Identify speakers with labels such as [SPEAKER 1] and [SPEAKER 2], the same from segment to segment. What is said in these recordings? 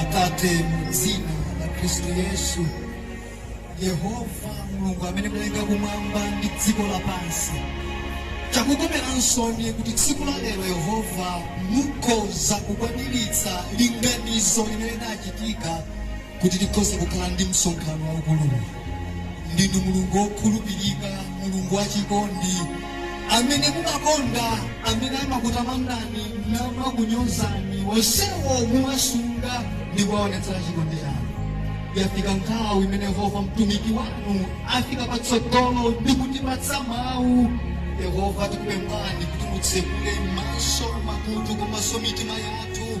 [SPEAKER 1] Atate, mu dzina la Kristu Yesu, Yehova Mulungu amene mudalenga kumwamba ndi dziko lapansi, chakukomerani nsoni kuti tsiku la lero Yehova mukhoza kukwaniritsa linganizo limene linachitika kuti tikhoze kukhala ndi msonkhano waukuluwu. Ndinu Mulungu wokhulupirika, Mulungu wachikondi, amene mumakonda amene amakutamandani namakunyozani, onsewo muwasunga ndi kuwaonetsera chikondi chanu. Yafika nthawi imene Yehova mtumiki wanu afika patsogolo ndi kutipatsa mawu. Yehova tikupemphani kuti mutsekule maso, makutu komanso mitima yathu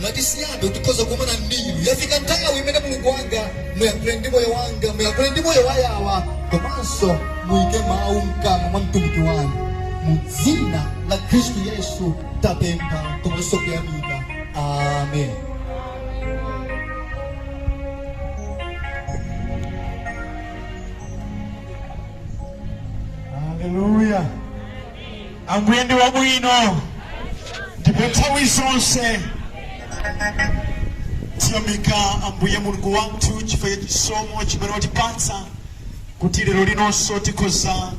[SPEAKER 1] Ndi chisomo tikhoza kukumana ndinu yafika nthawi imene mulungu wanga muyakhule ndi moyo wanga muyakhule ndi moyo wayawa komanso muyike mawu mkamwa mwa mtumiki wanu mu dzina la khristu yesu tapempha komanso kuyamika amen Hallelujah. Ambuye ndi wabwino ndipo nthawi zonse tiyamika Ambuye Mulungu wathu chifukwa cha chisomo chimene watipatsa kuti lero linonso tikhoza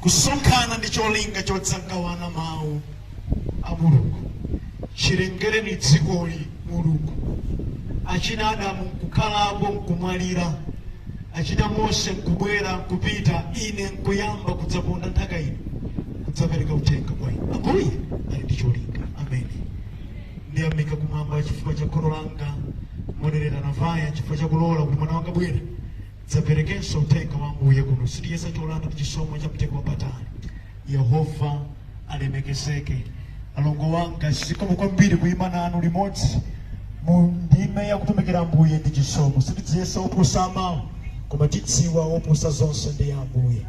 [SPEAKER 1] kusonkhana ndi cholinga chodzagawana mawu a Mulungu. Chilengereni dzikoli Mulungu, achina Adamu nkukhalapo nkumwalira. Achina Mose nkubwera, nkupita, ine nkuyamba kudzaponda nthaka ino, kudzapereka uthenga kwa inu. Ambuye ali ndi cholinga. Ameni. Ndiyamika Kumwamba chifukwa cha kholo langa, Modereta Navaya, chifukwa cha kulola kuti mwana wanga abwere adzaperekenso uthenga wa Ambuye kuno. Sitichiyesa cholanda ndi chisomo cha mtengo wapatali. Yehova alemekezeke. Alongo wanga, zikomo kwambiri kuima nanu limodzi mu ndime ya kutumikira Ambuye ndi chisomo. Sitidziyesa oposa amawu, koma tidziwa oposa zonse ndi Ambuye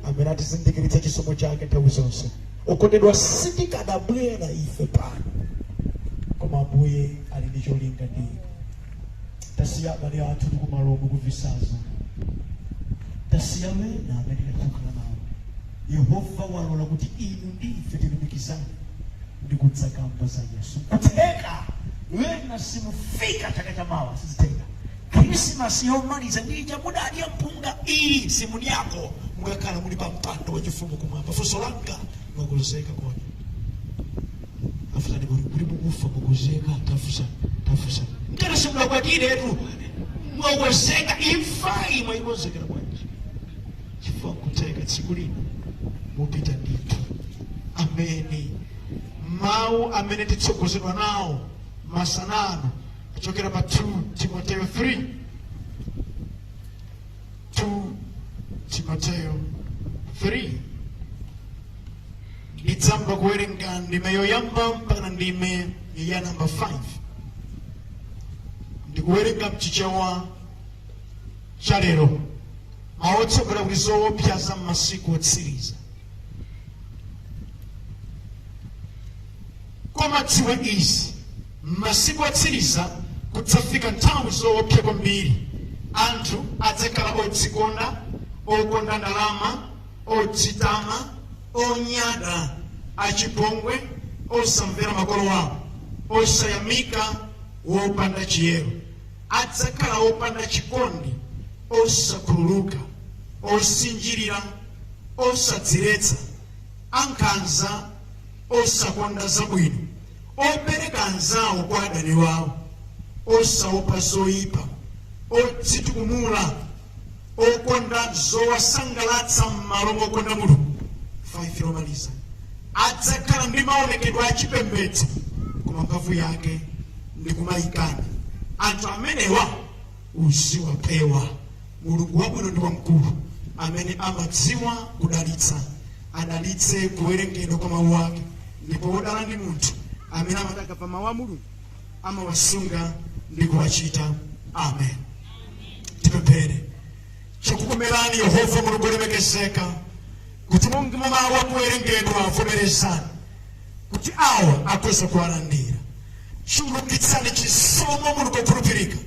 [SPEAKER 1] amene atizindikiritsa chisomo chake nthawi zonse. Okondedwa, sitikadabwera ife pano, koma Ambuye ali ndi cholinga ndi inu. tasiya abale athu ndi kumaloku ku visazo tasiya wena amene tinakhala nawo yehova walola kuti inu ndi ife tilumikizane ndi kudzakamba za yesu kutheka wena simufika chaka cha mawa zitheka krisimasi yomaliza ndi ija mudadya mpunga iyi simudyako mukakhala muli pa mpando wachifumu kumwamba funso langa Mwakonzeka kodi? Afunsani kuti kuti mukufa mwakonzeka tafunsa tafunsa. Mtero simunakwatiretu. Mwakonzeka imfayi mwayikonzekera bwanji? Chifukwa kudzafika tsiku lina mupita ndithu. Ameni. Mawu amene titsogozedwe nawo masana ano kuchokera pa 2 Timoteo 3 2 Timoteo 3 ndidzayamba kuwerenga ndime yoyamba mpaka ndime ya namba 5 ndikuwerenga mchichewa cha lero mawu otsogolera akuti zoopsya za m'masiku otsiriza koma dziwa izi M'masiku otsiriza kudzafika nthawi zoopsya kwambiri. Anthu adzakhala odzikonda, okonda ndalama, odzitama, onyada, achipongwe, osamvera makolo awo, osayamika, opanda chiyero. Adzakhala opanda chikondi, osakhululuka, osinjirira, osadziletsa, ankhanza, osakonda zabwino. opereka anzawo kwa adani wawo, osaopa zoipa, odzitukumula, okonda zowasangalatsa m'malo mokonda Mulungu. 5 yomaliza adzakhala ndi maonekedwe achipembedzo koma mphamvu yake ndi kumayikana. Anthu amenewa uziwapewa. Mulungu wabwino ndi wamkulu amene amadziwa kudalitsa, adalitse kuwerengedwa kwa mawu ake. Ndipo wodala ndi munthu amene amati akamva mawu a Mulungu, amawasunga ndi kuwachita. Amen. Tipemphere. Chakukomerani Yehova Mulungu olemekezeka kuti monga mawu awerengedwa vomerezani kuti awa akhoze kuwalandira. Chulukitsani chisomo muli kokhulupirika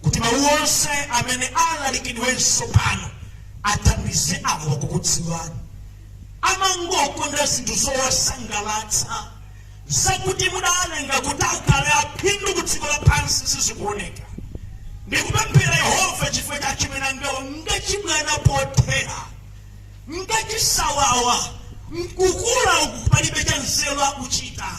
[SPEAKER 1] kuti mawu onse amene alalikidwenso pano athandize awa kukudziwani. Amangokonda zinthu zowasangalatsa zakuti mudalenga kuti akhale aphindu ku dziko lapansi sizikuoneka. Ndikupemphera Yehova chifukwa achimwene angawa ngachibwana pothera ngati awawa nkukula uku palibe cha nzeru akuchita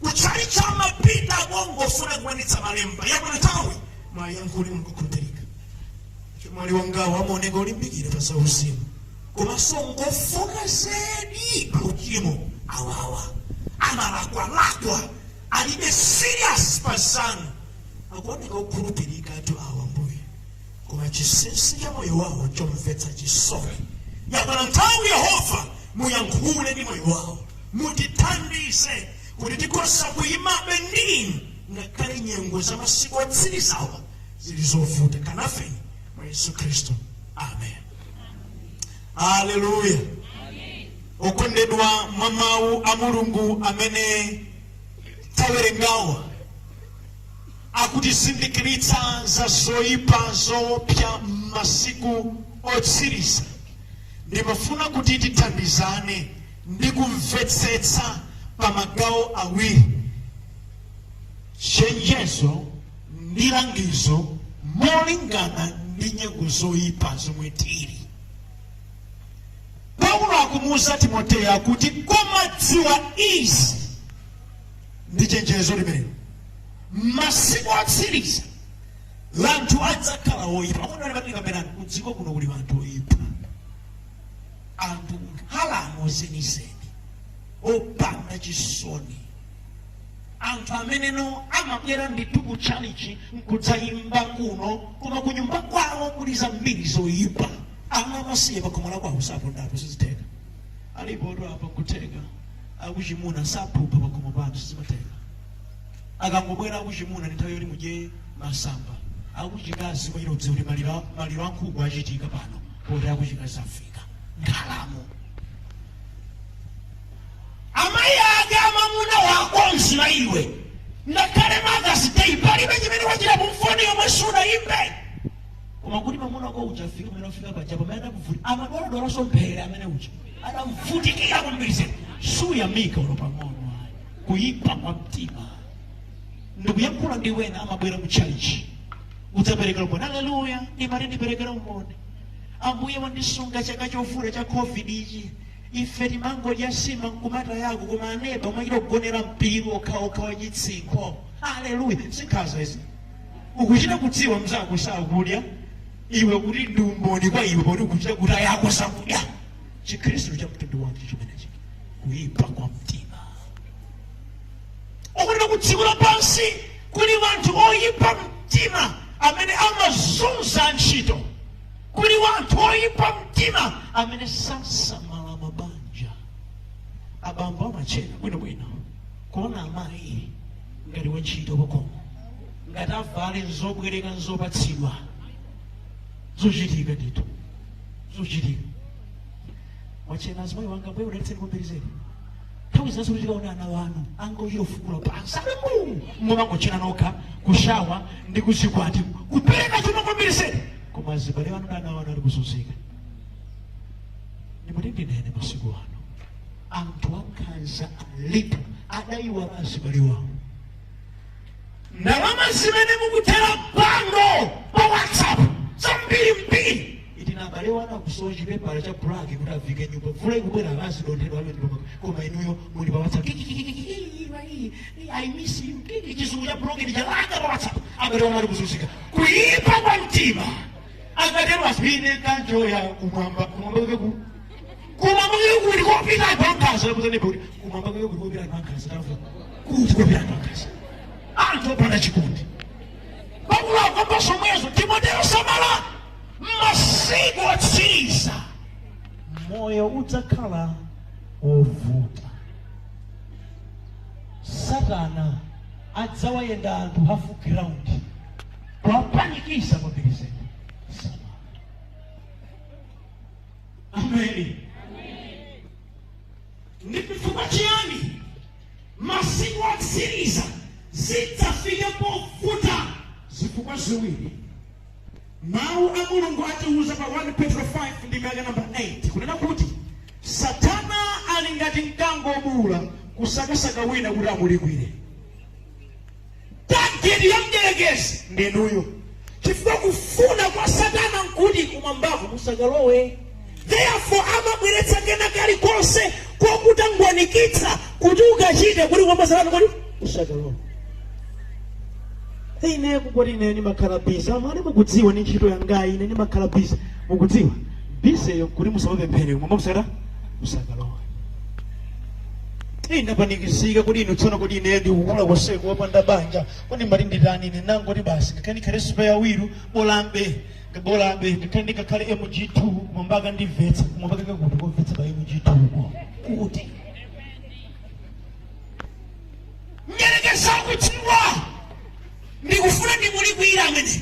[SPEAKER 1] kutchalitchi amapita akongofuna kukwanitsa malemba yakwana nthawi muwayankhule kukhulupirika achemwali angawo amaoneka olimbikira pa zauzimu komanso ngofoka zedi pa uchimo awawa amalakwalakwa alibe serious pa zanu akuoneka okhulupirikatu awa mbuye koma chinsinsi cha moyo wawo chomvetsa chisoni yakwana nthawi yehova muyankhule ndi moyo wawo mutithandize kuti tikhoza kuyimabe ndi inu ngakhale nyengo za masiku otsirizawa zili zovuta kanenani mwa yesu khristu amen haleluya okondedwa mwa mawu a mulungu amene tawerengawa akutizindikiritsa za zoipa zoopsa m'masiku otsiriza, ndikufuna kuti tithandizane ndi kumvetsetsa pa magawo awiri, chenjezo ndi langizo molingana ndi nyengo zoipa zomwe tili. Paulo akumuuza Timoteyo akuti, koma dziwa izi, ndi chenjezo limenelo m'masiku otsiriza wanthu adzakhala oyipa akuti a Neba tikamba anthu kudziko kuno kuli anthu oyipa anthu nkhalamo zenizeni opanda chisoni anthu ameneno amabwera ndithu ku tchalichi nkudzayimba kuno koma ku nyumba kwawo kuli zambiri zoyipa ana amasiye pakhomo lakwawo sapondapo sizitheka Alipotu apa nkutheka kuti akuchimuna saphupha pakhomo panu sizimatheka. Akangobwera akuchimuna ndi nthawi yoti mudye masamba. Akuchikazi mwachita kudziwa kuti maliro a- maliro a nkhuku achitika pano poti akuchikazi afika. Nkhalamo. amayi ake amamuna wako mnzanga iwe ngakhale mother's day palibe chimene wachita mpaka foni yomwe sunayimbe koma kuti mamuna wako uja afike pamene afika paja pamene adamuvutikira amadwaladwalanso mphere amene uja adamvutikira koma iwe suyamika ulo pang'ono ayi kuyipa kwa mtima ndikuyankhula ndi ena amabwera mu chalichi kudzaperekera umboni aleluya amati ndiperekere umboni ambuye wandisunga chaka chovuta cha covid ichi ife timangodya nsima m'khuma mwako koma aneba amachita kugonera mpiru okhaokha wachitsinkho aleluya sikhaza izi ukuchita kudziwa mzako sakudya iwe kuti ndi umboni kwa iwe poti ukuchita kuti anzako sakudya chikhristu cha mtundu wanji chimenechi kuipa kwa mtima akunena ku dziko lapansi kuli wanthu oyipa mtima amene amazunza antchito kuli wanthu oyipa mtima amene sasamala mabanja abambo amatchena bwinobwino kuona amayi ngati wantchito pakhomo ngati avale nzobwereka nzopatsidwa zochitika ndithu zochitika wachena azimayi wanga bwe udalitseni kumbirizeni nthawi zinanso koma tikaona ana wanu angochita ufukula pansi ali mbuu mumangochena nokha kushawa ndi kuzikwati kupereka chuma kumbirizeni koma azibale wanu ndi ana wanu ali kuzunzika ndimati ndinene masiku ano anthu ankhanza alipo adayiwala azibale wawo ndalama zimene mukuthera bandulo pa whatsapp zambiri mbiri iti abale wanu akusowa chipepala cha braki kuti ayike nyumba mvula ikubwera alazi donthedwa alo nyumba koma inuyo muli pa whatsapp kikikikikiki, wai, i miss you kiki chizungu cha broketi cholemba pa whatsapp abale wanu ali kuzunzika kuyipa kwa mtima akatero asine kanjo ya kumwamba kumwamba kuke ku Koma moyo kuli kopita anthu ankhanza lakuzani kuti koma moyo kuli kopita anthu ankhanza tafu kuti kopita anthu ankhanza anthu opanda chikondi Paulo akukamba zomwezo Timoteo samala masiku otsiriza moyo udzakhala wovuta satana adzawayenda anthu hafu ground kuwapanikiza kwambiri zedi ameni ndi chifukwa chiyani masiku otsiriza zidzafika povuta zifukwa ziwiri mawu a mulungu atiwuza pa 1 petro 5 ndime ya nambala 8 kunena kuti satana ali ngati mkango wobuula kusakasaka wina kuti amulikwire tageti ya mdierekezi ndinuyo chifukwa kufuna kwa satana nkuti kumwambako musakalowe therefore amabweretsa kena kalikonse kokutangwanikitsa kuti ukachite kuti kumwamba satana akuti usakalowe Hey, ine kungoti ine ndimakhala busy amene mukudziwa ndi ntchito yangayi ine ndimakhala busy mukudziwa busy yo kuti musamapemphere kumwamba musakalowe musakalowe Ine ndapanikizika kodi ine tsono kodi ine ndikukula konseko wopanda banja kodi mmati nditani ine nangoti basi ngakhale ndikhale sipeya wilu bola ambuye bola ambuye ngakhale ndikakhale mg2 koma mpaka ndimvetsa koma mpaka kakuti komvetsa pa mg2 ko kuti mdyerekezi akudziwa ndikufuna ndimulikwire amene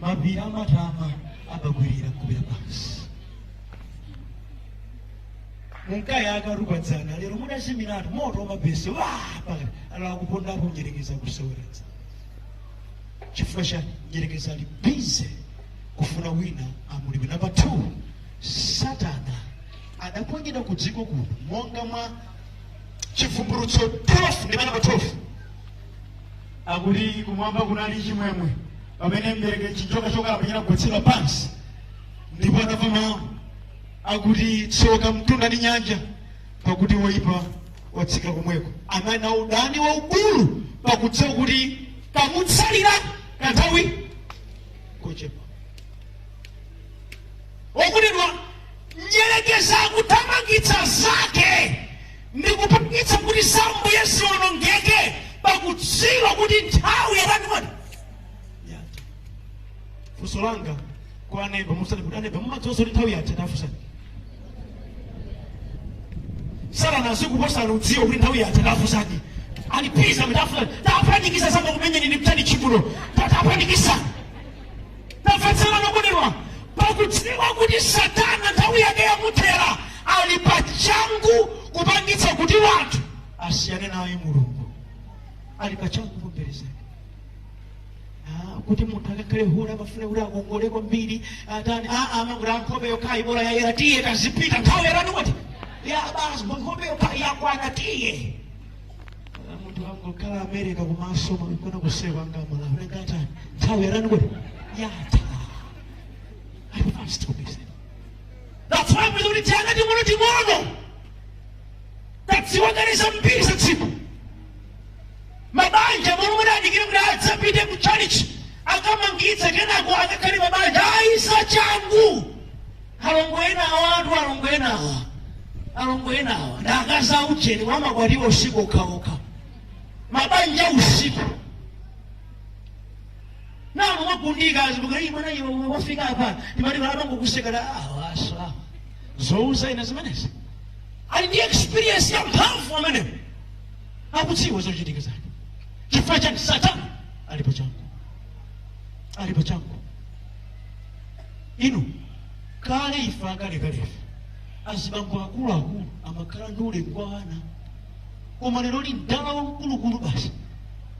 [SPEAKER 1] mapiri anathawa amagwirira kubira pansi munkayi akarupa dzana lero mudazimiratu moto wamabhesi wapakalakala kuponda mdyerekezi kuseweredza chifukwa cha mdyerekezi ali bize kufuna wina amulikwire namba 2 satana adaponyedwa ku dziko kuno monga mwa chivumbulutso 12 ndime namba 12 akuti kumwamba kunali chimwemwe pamene mbereke chinjoka chokalamba chinagwetsedwa pansi ndipo anamva mawu akuti tsoka mtunda ndi nyanja pakuti woyipa watsika komweko ali na udani waukulu pakudziwa kuti kamutsalira kanthawi kochepa okondedwa mdyerekezi kuthamangitsa zake ndi kupangitsa kuti za ambuye zionongeke pakudziwa kuti nthawi yatani kodi yatha funso langa kwa aneba musati kuti aneba mumadziwa zoti nthawi yatha tafusani satana azikuposani kudziwa kuti nthawi yatha tafusani alipisa mitafusani tapanikiza sanga kumenyeni ni mtani chibuno tapanikiza tamvetserani okondedwa pakudziwa kuti satana nthawi yake yamuthera ali pa changu kupangitsa kuti wanthu asiyane naye mulungu ali pa changu kumperezani Ah, kuti munthu akakhale hule amafuna kuti akongole kwambiri atani aa amakuti a nkhope yokhayi bola yayera tiye kadzipita nthawi yatani kodi ya basi nkhope yokhayi yakwana tiye munthu angokhala america kumaso mwakona kusewa ngamala unengata nthawi yatani kodi yatha i must be said that's why muli kuti tiana ting'ono ting'ono tadziwa kale zambiri za usiku mabanja muli kuti adikire kuti adzapite ku chalichi akamangitse kenako akakhale mabanja ayi sachangu Alongo ena awatu alongo ena awa alongo ena awa ndi akazi aujeni amakwatiwa usiku okhaokha mabanja usiku nanu mwagundika azimukali mwana iwe wafika apa timati malabango kusekera awasa zouza ina zimenezi ali ndi experience ya mphamvu amenewo akudziwa zochitika zake chifukwa chiyani satana ali pa changu ali pa changu inu kale ife akalekalefe azibambo akuluakulu amakhala ndi ulemu kwa ana koma lero lino mdala wamkulukulu basi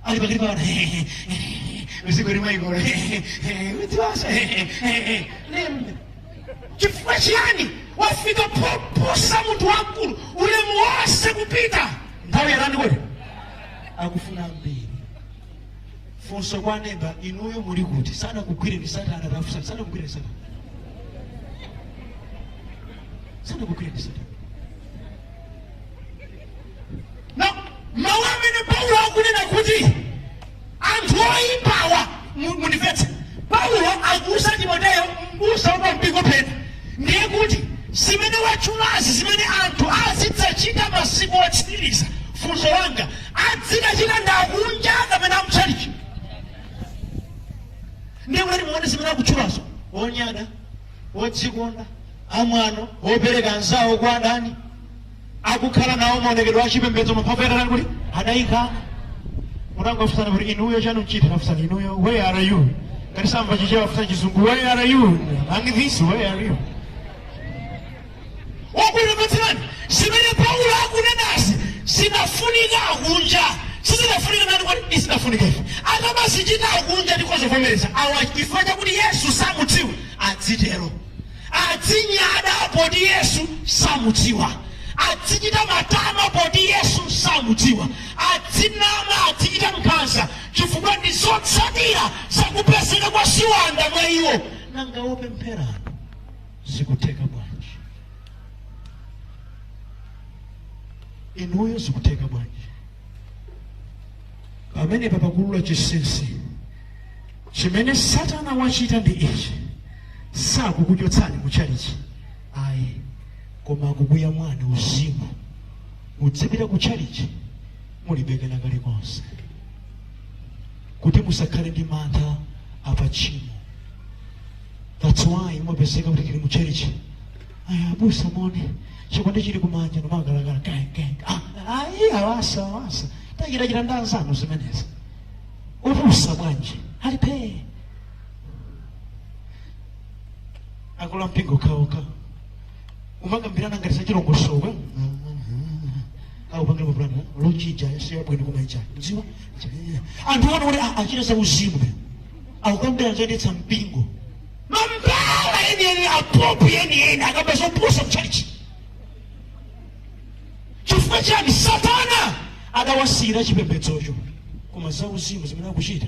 [SPEAKER 1] ali pakati pa ana usiku limaikola udziwasa lembe chifukwa chiyani wafika poposa munthu wamkulu ulemu wonse kupita nthawi yatani kodi akufuna mbiri funso kwa neba inuyo muli kuti sanakugwire ndi satana tafunsa sanakugwire ndi satana sanakugwire ndi satana mawu amene paulo akunena kuti anthu oyipawa mu- mundimvetse paulo akuuza timoteyo mbusa wa mpingo pena ndiye kuti zimene watchulazi zimene anthu azidzachita masiku otsiriza funso langa adzichita ndi akunja kapena amtchalitchi ndiye kuti muone zimene akutchulazo onyada odzikonda amwano opereka anzawo kwa adani akukhala nawo maonekedwe a chipembedzo mphamvu yake atatani kuti adayikana tangofunsanani kuti inuyo chanu nchiti tafunsanani inuyo where are you ngati sakumva chichewa afunseni chizungu where are you among this where are you wabwino mvetserani zimene paulo akunenazi sizinafunika akunja sizinafunika ndani kwa sizinafunika ife akamazichita akunja ndi zovomerezeka awa chifukwa chakuti yesu samudziwa adzitero adzinyada poti yesu samudziwa adzichita matama poti yesu samudziwa adzinama adzichita nkhanza chifukwa ndi zotsatira zakupezeka kwa ziwanda mwa iwo nanga wopemphera zikutheka bwanji inuyo zikutheka bwanji pamenepa pakuulula chinsinsi chimene satana wachita ndi ichi sakukuchotsani mu tchalichi ayi koma akukuphani mwauzimu mudzipita ku tchalichi mulibe kena kalikonse kuti musakhale ndi mantha pa tchimo that's why mumapezeka kuti tili mu church ayi abusa mone chikwande chili kumanja nomagalagala kengenge ayi awasa awasa tachitachita ndi anzanu zimenezi ubusa bwanji ali phee akula mpingo kaoka umakambirana ngati zachilongosoka akupangirwa pulani lochija yasiya bwino koma ija mudziwa anthu onena kuti achita za uzimu akukambirana zoyendetsa mpingo mambala yeniyeni apompu yeniyeni akamba zopusa mchalichi chifukwa chani satana adawasiyira chipembedzocho koma za uzimu zimene akuchita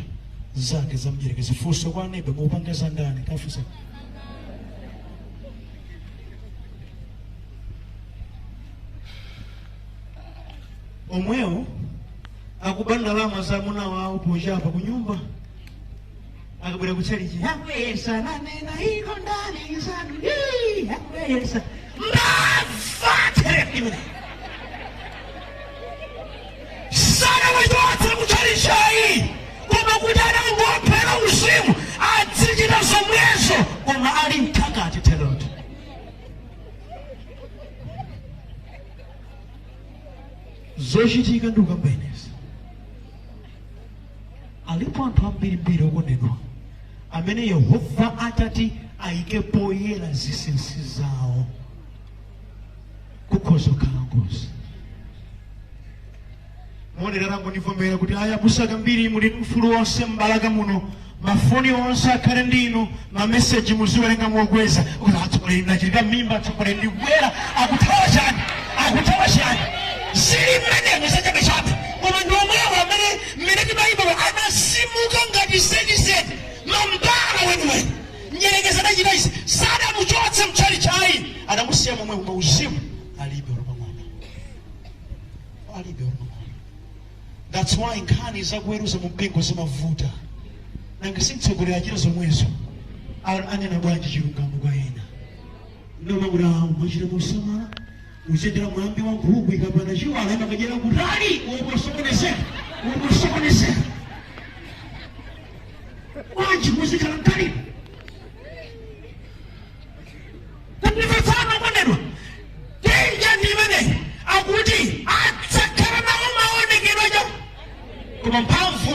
[SPEAKER 1] za mdyerekezi funso kwa aneba mupanga za ndani kafunsa omwewo akuba ndalama za amuna wawo pochapa ku nyumba akabwera ku tchalichi akuyesa manena iko ndi anzanu Yii, akuyesa mbava sanawachotse mutchalitchi ayi koma kuti anangowaphera uzimu adzichita zomwezo koma ali mkati therodo zochitika ndikukamba inezi alipo anthu ambirimbiri okondedwa amene yehova atati ayike poyera zinsinsi zawo kukhoza kukhala ngozi monera tangondivomera kuti ayi abusa Kambiri muli ndi ufulu wonse m'balaka muno mafoni onse akhale ndi inu mameseji muziwerenga mokweza kuti atsogoleri ndachita mimba atsogoleri ndikubwera akuthawa chani akuthawa chani zili mmenemo zachabechabe koma ndi omwewo amene mmene timayimba amazimuka ngati zenizeni mambala weniweni Mdyerekezi adachita izi, sadamuchotse mtchalitchi ayi, adamusiya momwemo koma uzimu alibe olo pang'ono, alibe olo pang'ono. That's why nkhani zakuweruza mu mpingo zimavuta, nanga si mtsogoleri achita zomwezo, A- anena bwanji chilungamo kwa ena noma kuti awo mwachita mosamala kuyendera mwambi wa nkhuku ikapana chiwala imakadyera kutali umosokonezeka umosokonezeka Bwanji muzikhala mkhalidwe. Kundimvetsana okondedwa. Danger ndi imeneyi akuti adzakhala nawo maonekedwe aja. Koma mphamvu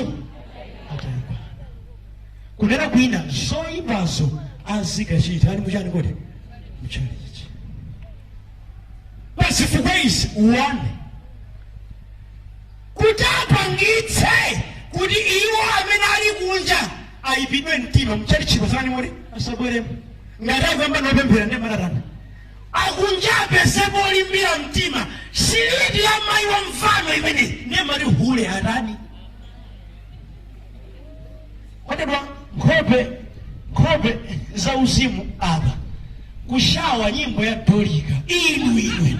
[SPEAKER 1] ataikana. Kunena kwina zoyipazo azikachita ali mu chani kodi? Mchalichi. Pazifukwa izi uwande. kuti apangitse kuti iwo amene ali kunja ayipidwe mtima mchalichiko zani muli asabweremo ngati akuyamba ndi opemphera ndiye mmati atani akunja apezepo olimbira mtima siliti ya mayi wa mvano imeneyi ndiye mmati hule atani okondedwa nkhope nkhope za uzimu apa kushawa nyimbo ya dolika inu inu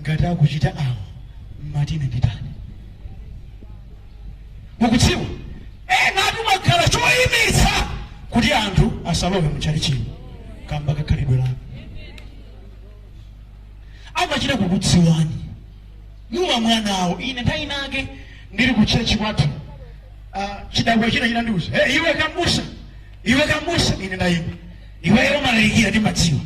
[SPEAKER 1] ngati akuchita awa mmati ine nditani mukudziwa enatu mumakhala choyimitsa kuti anthu asalowe mutchalichimo kamba ka khalidwe lanu amachita kukudziwani muwa mwana awo ine nthawi inake ndili ku chechi kwathu ah, chidakwa china chinandiuza hey, iwe kambusa iwe kambusa ine ndayima iweyo umalalikira ndimadziwa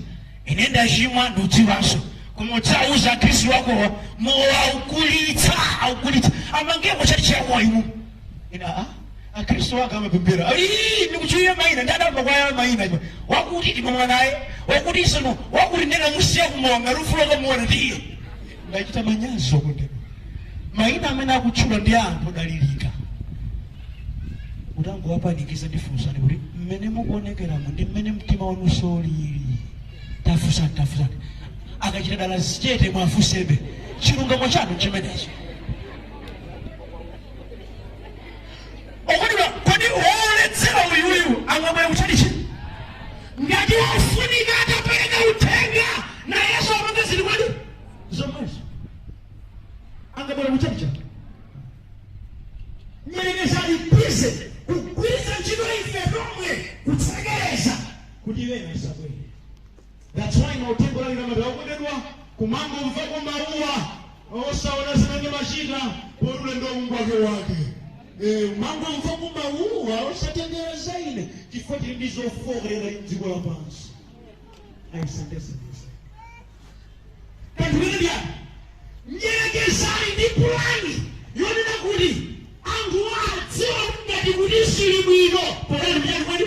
[SPEAKER 1] ine ndachimwa ndiudziwanso koma udzauza akhristu akowa mowa aukulitsa aukulitsa amangemo chati chakowa iwo ina a akhristu ake amapemphera "Ii, ndikutchulira mayina ndadamba kwaya mayina iwe wakuti timamwa naye wakuti isono wakuti ndena musiya kumowa ngati ufuna ukamuona tiye Ndachita manyazi okondedwa. Maina amene akutchula ndi a anthu odalirika. Utangowapanikiza ndifunseni kuti mmene mukuonekeramu ndi mmene mtima wanunso ulili. Tafunsani, tafunsani. Akachita dala zichete mwafunsebe. Chilungamo chanu chimenechi. okondedwa kodi woledzera uyuyu angabwere kutchalichi ngati ofunika atapereka uthenga na yesu amapanga ziripo ndi zomwezo angabwere kutchalichi mdyerekezi alipize kugwiritsa ntchito ife tomwe kutsekereza kuti ena asabwere That's why mauthenga olalikidwa ngati okondedwa kumangomvako mawuwa osaona zimene amachita poti ulendo wake wake Eh, umangomvako mawuwa osatengera za ine chifukwa tili ndi zofooka ngati mdziko lapansi ayisendesenese kanthu kene ndiyani mdyerekezi ali ndi pulani yonena kuti anthu adziwa ngati kuti zili bwino pokati mchani kwani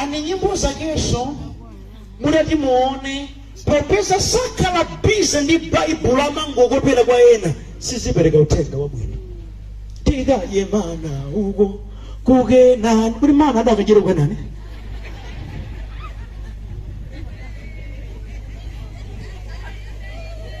[SPEAKER 1] ane nyimbo zakenso mukati muone popeza sakhala busy ndi baibulo amangokopera kwa ena sizipereka uthenga wabwino tikaye mana uko kukenani kuti mana adakachira kukenani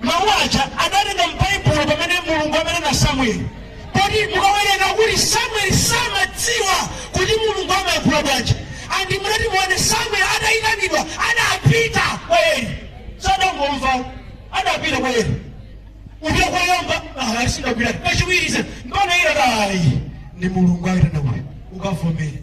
[SPEAKER 1] Mawu aja adatenga m'Baibulo pamene Mulungu amaitana Samueli. Poti mukawerenga kuti Samueli samadziwa kuti Mulungu amayankhula bwanji. And mukati muone Samueli atayitanidwa adapita kwa Eli. Sadangomva adapita kwa Eli. Ulendo woyamba ah sindagwira. Kachiwiri se mpaka Eli adati. Ndi Mulungu akuitana uyu. Ukavomere.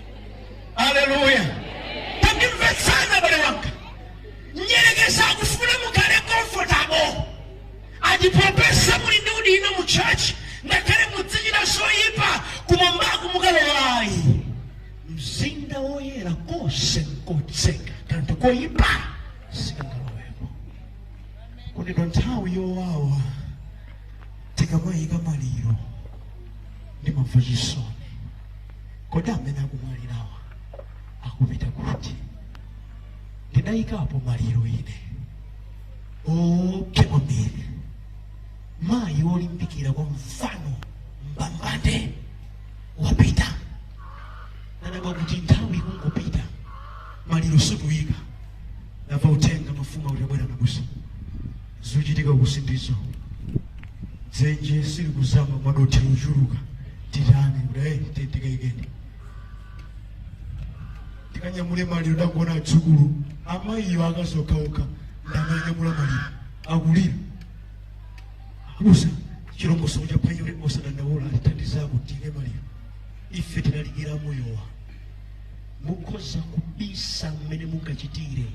[SPEAKER 1] aleluya tandimvetsani abale wanga mdyerekezi akufuna mukhale comfortable ati popeza muli ndi udindo mu church ngakhale mudzichita zoyipa kumwambaku simukalowayi mzinda woyera konse nkotsekeka kanthu koyipa sikangalowepo kuti pa nthawi yowawa tikamayika maliro ndi mavuto chisoni Kodi amene akumwalirawa akupita kuti? Ndidayikapo maliro ine oopsa kwambiri, mayi wolimbikira kwa mvano mbambande wapita. Nadabwa kuti nthawi ikungopita, maliro sitikuyika. Ndamva uthenga mafumu akuti abwera ndi abusa. Zochitika uku sindizo. Dzenje silikuzama madothi ochuluka. Titani kuti hey, tiye tikaikeni. Tikanyamule maliro tangoona adzukulu amayiyo akazi okhaokha ndi amanyamula maliro akulira. Abusa chilongosoko cha panyole osadandaula atithandizako tiike maliro. Ife tilalikira moyowa. mukhoza kubisa mmene mungachitire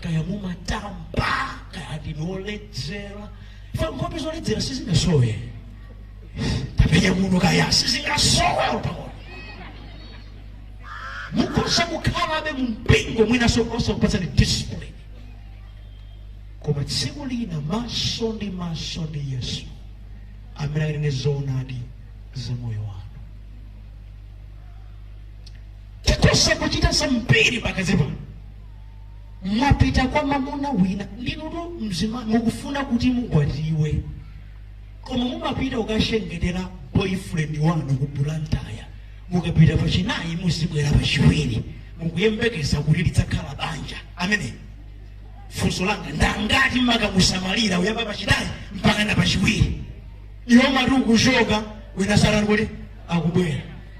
[SPEAKER 1] kaya mumatamba kaya ndinu oledzera ife nkhope zoledzera sizingasowe tapenya muno kaya sizingasowe utaona mukhoza kukhalabe mu mpingo mwinaso osakupatsani discipline koma tsiku lina maso ndi maso ndi yesu amene akanene zoonadi za moyo wanu tikhoza kuchita zambiri pakati pano mwapita kwa mamuna wina ndinutu mzima mukufuna kuti mukwatiwe koma mumapita kukachengetera boyfriend wanu ku Blantyre mukapita pachinayi muzibwera pachiwiri mukuyembekeza kuti lidzakhala banja amene funso langa ndi lakuti mukamusamalira kuyamba pachinayi mpaka na pachiwiri inu mumati mukuchoka wina satani kuti akubwera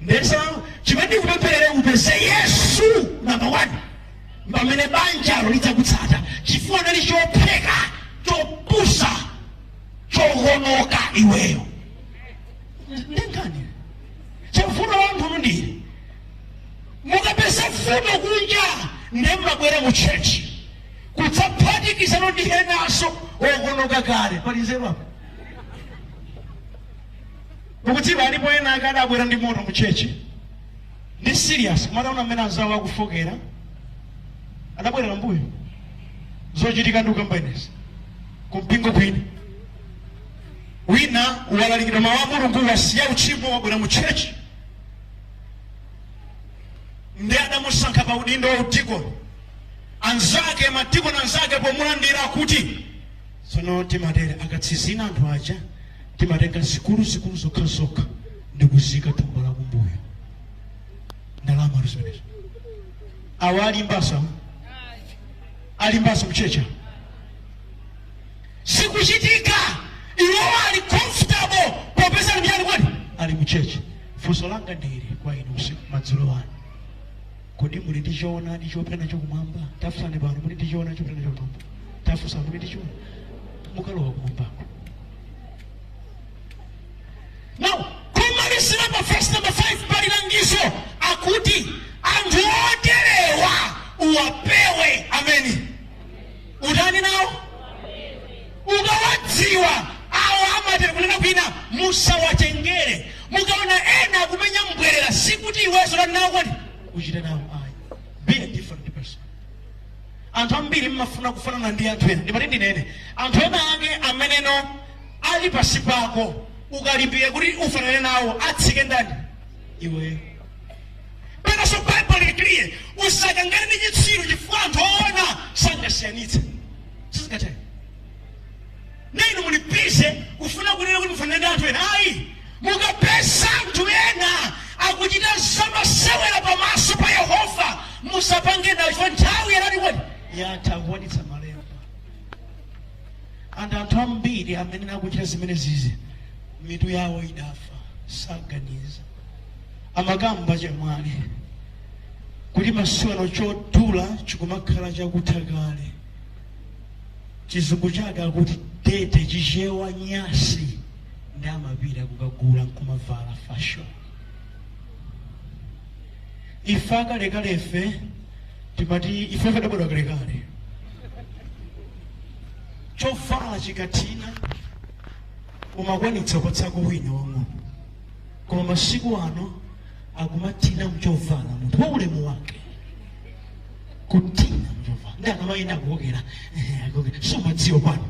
[SPEAKER 1] Ndiye chimene ndikupempherera upeze Yesu namba 1 pamene banjalo lidzakutsata chifukwa naye ali chofoka chopusa chohonoka iweyo ndengani chavuto wamphunu ndiye mukapeza vuto kunja ndiye mwabwera mu chechi kudzaphatikizana ndi enanso ohonoka kale pali nzeru apo Mukudziwa, alipo ena ake adabwera ndi moto mu church ndi serious koma ataona mmene anzawo akufokera, adabwerera mbuyo zochitika ndikukamba inezi kumpingo kwinu wina walalikidwa mawu a mulungu wasiya utchimo wabwera mu church ndiye adamusankha pa udindo wa udikoni anzake madikoni anzake pomulandira kuti Tsono timatere, akatsinzina anthu aja timatenga zikuluzikulu zokhazokha ndikuziika thumba la kumbuyo ndalama zimenezo. Awa ali mbaso ali mbaso mchechi sikuchitika iwo ali comfortable popeza ndi mchani kwani ali mchechi. Funso langa ndi ili kwa inu usiku madzulo ano Kodi muli ndi choonadi chopita nacho kumwamba? Tafunsani pano, muli ndi choonadi chopita nacho kumwamba? Tafunsa, muli ndi choonadi? Chokalowa kumwambako. Now, kumalizira pa verse number 5 pali langizo lakuti anthu oterewa uwapewe. Ameni. utani nawo ukawadziwa awo amatero kunena kwina musawatengere mukaona ena akumenya mbwerera sikuti iwenso utani nawo kodi uchite nawo ayi be a different person anthu ambiri mmafuna kufanana ndi anthu ena ndipati ndinene anthu ena ake ameneno ali pansi pako ukalimbike kuti ufanane nawo atsike ndani iweyo Penanso Baibulo lili clear, usakangane ndi chitsiru chifukwa anthu oona sangasiyanitse. Sizingatheke. Ndiye inu muli busy kufuna kunena kuti mufanane ndi anthu ena. Ayi, mukapeza anthu ena akuchita zamasewera pamaso pa Yehova, musapange nawo chifukwa nthawi inati kodi yatha akukwanitsa malemba. And anthu ambiri amene akuchita zimenezizi mitu yawo idafa saganiza. amakamba chemwali kuti masiku ano chovala chikumakhala chakutha kale chizungu chake akuti dirty chichewa nyansi ndiye amapita kukagula nkumavala fashion ife akalekale ife timati ife ife odabadwa kalekale chovala chikathina umakaonetsa kwa nzako wina wang'ono koma masiku ano akumathina nchovala munthu wa ulemu wake kuthina nchovala ndiye akamayenda akukokera eh, akukokera. sumadziwa pano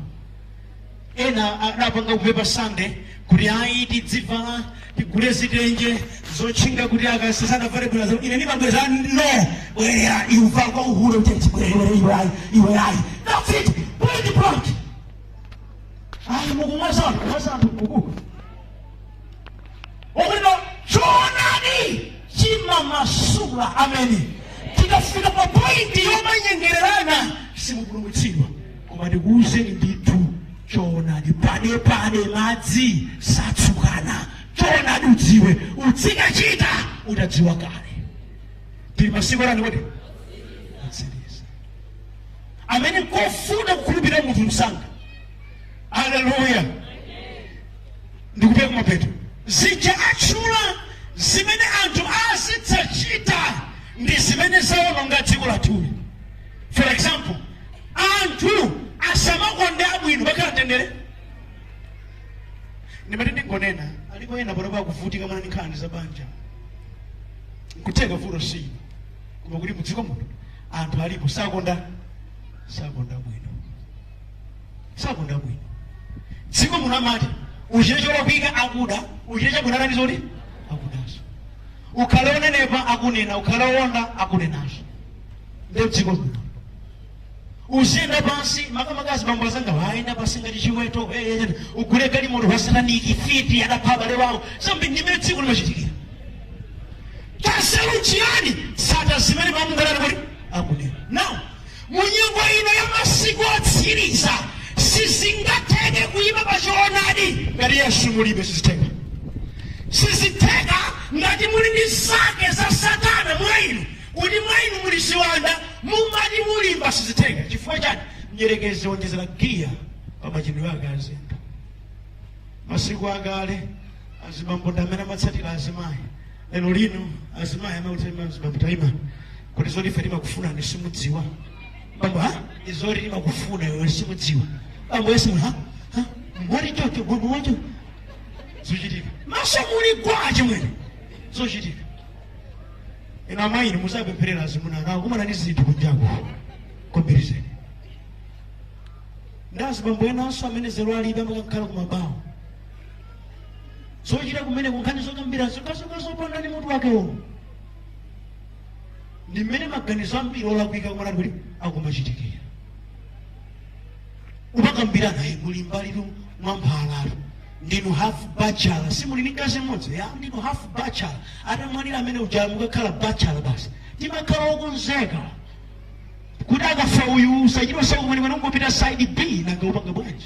[SPEAKER 1] ena adapanga kupempha Sunday kuti ayi tidzivala tigule zitenje zotchinga kuti akazi asadavale bwera zo ine ndimabweza no bwerera kuvala kwa uhule uteti bwerera iwe ayi iwe ayi that's it bring it back ayi mukumwaza anthu kumwaza anthu kuku ubwino choonadi chimamasula ameni tikafika pa pointi yomanyengererana simupulumutsidwa koma ndikuwuzeni ndithu choonadi pandepande madzi satsukana choonadi udziwe udzikachita utadziwa kale tili masiku anji kodi otsiriza amene nkofuna kukhulupirira munthu msanga aleluya ndikupita kumapeto zija atchula zimene anthu azidzachita ndi zimene zawononga dziko lathuli for example anthu asamakonde abwino pakhala mtendere ndimati ndingonena alipo ena panopa akuvutika mwina ndi nkhani za banja nkutheka vuto si inu koma kuti mudziko muno anthu alipo sakonda sakonda bwino sakonda bwino dziko muno amati uchite cholakwika akuda uchite chabwino atani zoti akudazo ukhale wonenepa akunena ukhale wowonda akunena nde dziko muno uziyenda pansi makamaka azibambo azangawo ayenda pansi ngati chiweto eh, eh, eh, ugule galimoto wa sataniki fiti adapha abale wawo ndi mmene dziko limachitikira chanzeru chiyani sata zimene mamungalana kuti akunena now Mu nyengo ino ya masiku otsiriza, sizingatheke kuima pa choonadi ngati Yesu mulibe. Sizitheka. Sizitheka ngati muli ndi zake za Satana mwa inu, kuti mwa inu muli ziwanda, mungati mulimba. Sizitheka. Chifukwa chani? Mdyerekezi wonjezera giya pa machitidwe ake a zinthu. Masiku akale azibambo ndi amene amatsatira azimayi. lero lino azimayi amautema azibambo taima kuti zoti ife timakufunani simudziwa bambo ha izoti timakufuna iwe simudziwa bambo yesu ha ha mwali chocho bambo wacho zochitika masa muli gwaje mwene zochitika ina amayi ni muzapempherera azimuna anuwo kumana ni zinthu kunjaku komberizeni ndazi bambo enanso amene zero alibe amakakhala kumabawo zochita kumene kunkhani zokambira zokhazoka zopanda ndi mutu wake uwu ndi mmene maganizo ambiri olakwika omwe ali kuti akumachitikira umakambira naye kuli mbalitu mwa mphalatu ndinu half bachelor si muli ndi mkazi mmodzi ya ndinu half bachelor atamwalira amene uja mukakhala bachelor basi timakhala okonzeka kuti akafa uyu usachita usakumene mwana ungopita side b nanga upanga bwanji